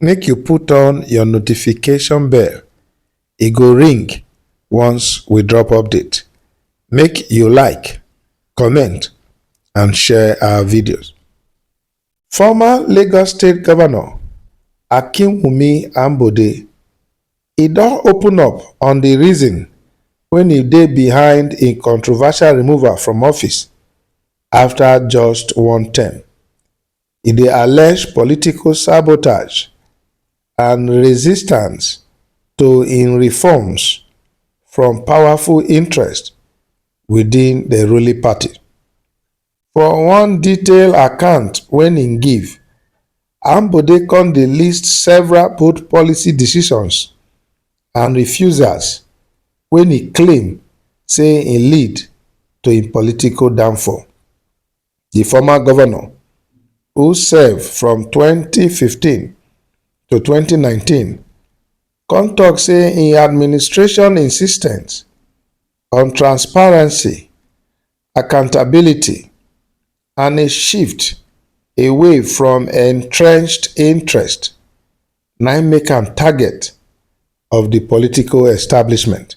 Make you put on your notification bell, e go ring once we drop update. Make you like, comment and share our videos. Former Lagos State Governor Akinwumi Ambode e don open up on the reason when e dey behind im controversial removal from office after just one term. e dey allege political sabotage and resistance to im reforms from powerful interests within di ruling party. For one detailed account wey im give, Ambode come dey list several bold policy decisions and refusals wey im claim say e lead to im political downfall. Di former govnor, who serve from twenty fifteen to twenty nineteen, come tok say im administration insistence on transparency, accountability and a shift away from entrenched interest na im make am target of di political establishment.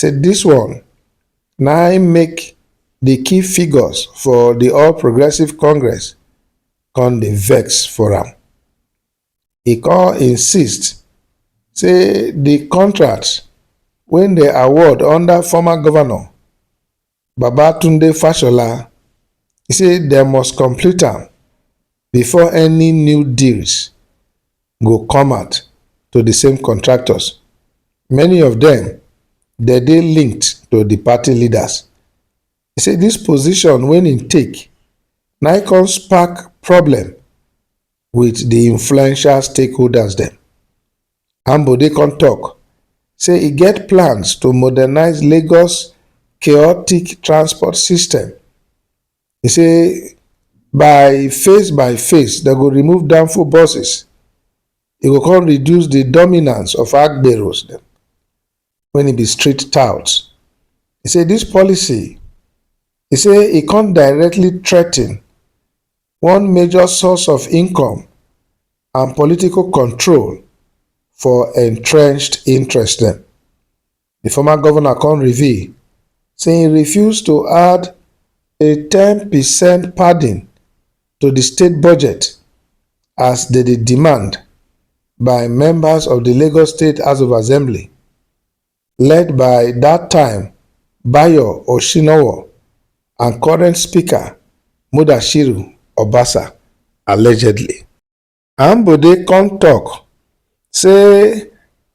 say dis one na im make di key figures for di All Progressives Congress come dey vex for am. E come insist say di contracts wey dem award under former govnor. Babatunde Fashola, e say dem must complete am before any new deals go come out to di same contractors, many of dem dey dey linked to di party leaders. E say dis position wey im take na im come spark problem. with the influential stakeholders dem. Ambode come talk say e get plans to modernize Lagos chaotic transport system. He say by phase by phase dem go remove danfo buses, e go come reduce the dominance of agberos dem. wen e be street tout. E say dis policy e say e come directly threaten one major source of income and political control for entrenched interest dem. Di former govnor come reveal say e refuse to add a ten percent padding to di state budget as dem dey demand by members of di Lagos State House of Assembly led by dat time Bayo Oshinowo and current speaker Mudashiru Obasa allegedly. Ambode come talk say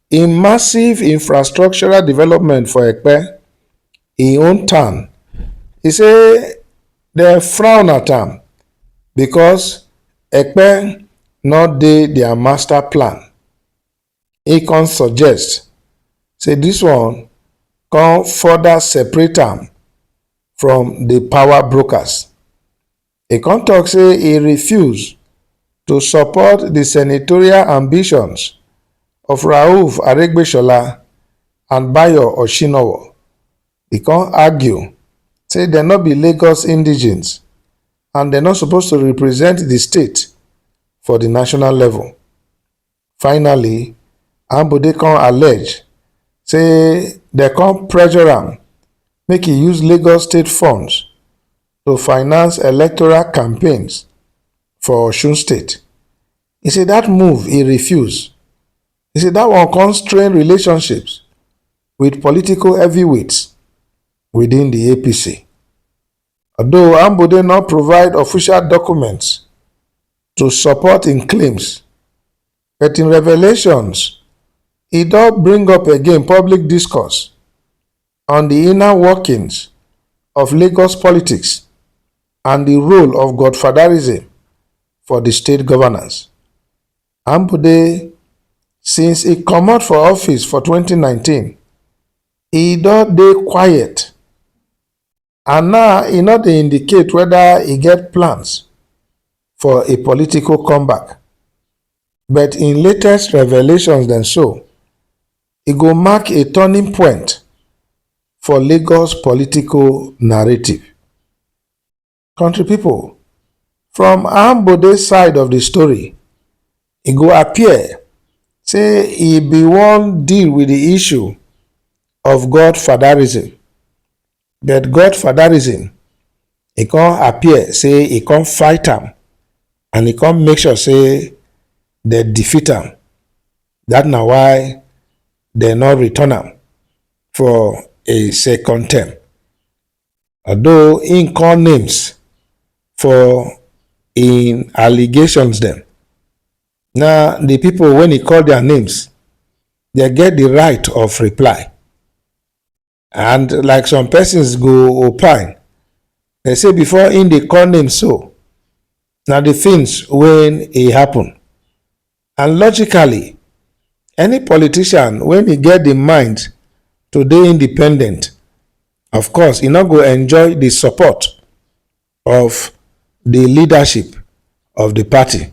im massive infrastructural development for Ekpe, im own town, e say dem frown at am because Ekpe no dey their master plan. He come suggest say this one come further separate am from the power brokers. E come talk say e refuse to support the senatorial ambitions of Rauf Aregbesola and Bayo Oshinowo. E come argue say dem no be Lagos indigenes and dem no suppose to represent the state for the national level. Finally, Ambode come allege say dem come pressure am make e use Lagos State funds to finance electoral campaigns for Osun State. He say that move he refuse. He say that one come strain relationships with political heavyweights within the APC. although Ambode no provide official documents to support im claims, but im revelations e don bring up again public discourse on di inner workings of Lagos politics and di role of godfatherism for di state governance. Ambode since e comot for office for twenty nineteen, e don dey quiet and now e no dey indicate whether e get plans for a political comeback. But in latest revelations dem show e go mark a turning point for Lagos political narrative. Country people, from Ambode side of the story, e go appear say e be wan deal with the issue of godfatherism But God fatherism, e come appear say e come fight am and e come make sure say dem defeat am. That na why dem no return am for a second term. Although im call names for im allegations dem, na the people wey e call their names, dem get the right of reply. and like some persons go opine they say before in the call name so now the things when it happen and logically any politician when he get the mind to be independent of course he not go enjoy the support of di leadership of di party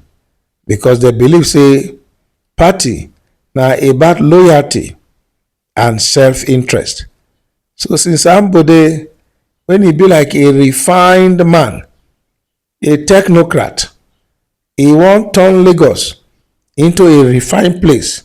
because dem believe say party na about loyalty and self-interest. So since Ambode when e be like a refined man, a technocrat, e wan turn Lagos into a refined place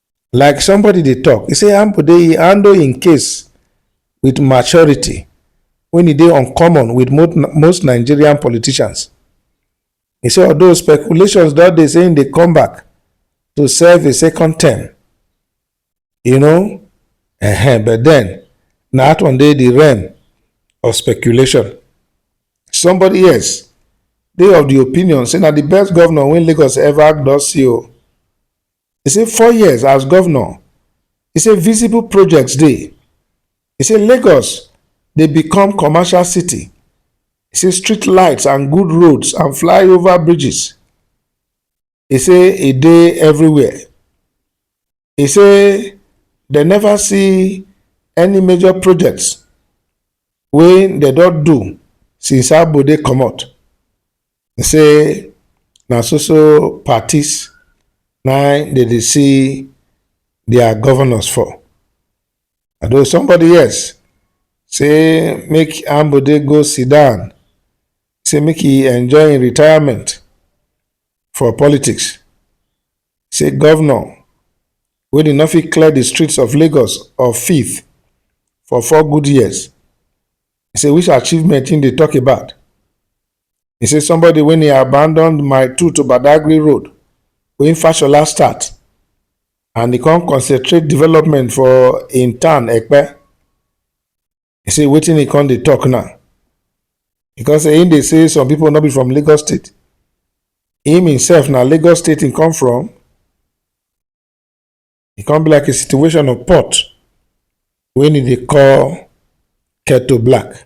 like somebody dey talk e say ambo dey handle im case with maturity when e dey uncommon with most nigerian politicians e say although speculations don dey say im dey come back to serve a second term you know uh-huh, but then na that one dey the realm of speculation somebody else dey of the opinion say na the best governor wey lagos ever don see o He say four years as governor, he say visible projects dey. He say Lagos dey become commercial city. He say street lights and good roads and flyover bridges. He say e dey everywhere. He say dem never see any major projects wey dem don do since Abode comot. He say na so so parties na im dey dey see their governors for. Although somebody else say make Ambode go sit down, say make e enjoy im retirement for politics. Say governor wey dey no fit clear the streets of Lagos of filth for four good years, say which achievement im dey talk about? He say somebody when he abandoned my two to Badagry Road, when Fashola start, and he come concentrate development for in town Ekpe. He say waiting he come dey talk now. Because in they say some people not be from Lagos State. Him himself now Lagos State he come from. He come be like a situation of pot when he dey call Keto Black.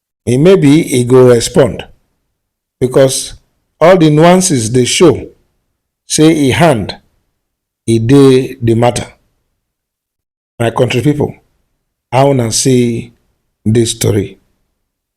e maybe e go respond because all the nuances dey show say e hand e dey the matter. My country people, how una see this story?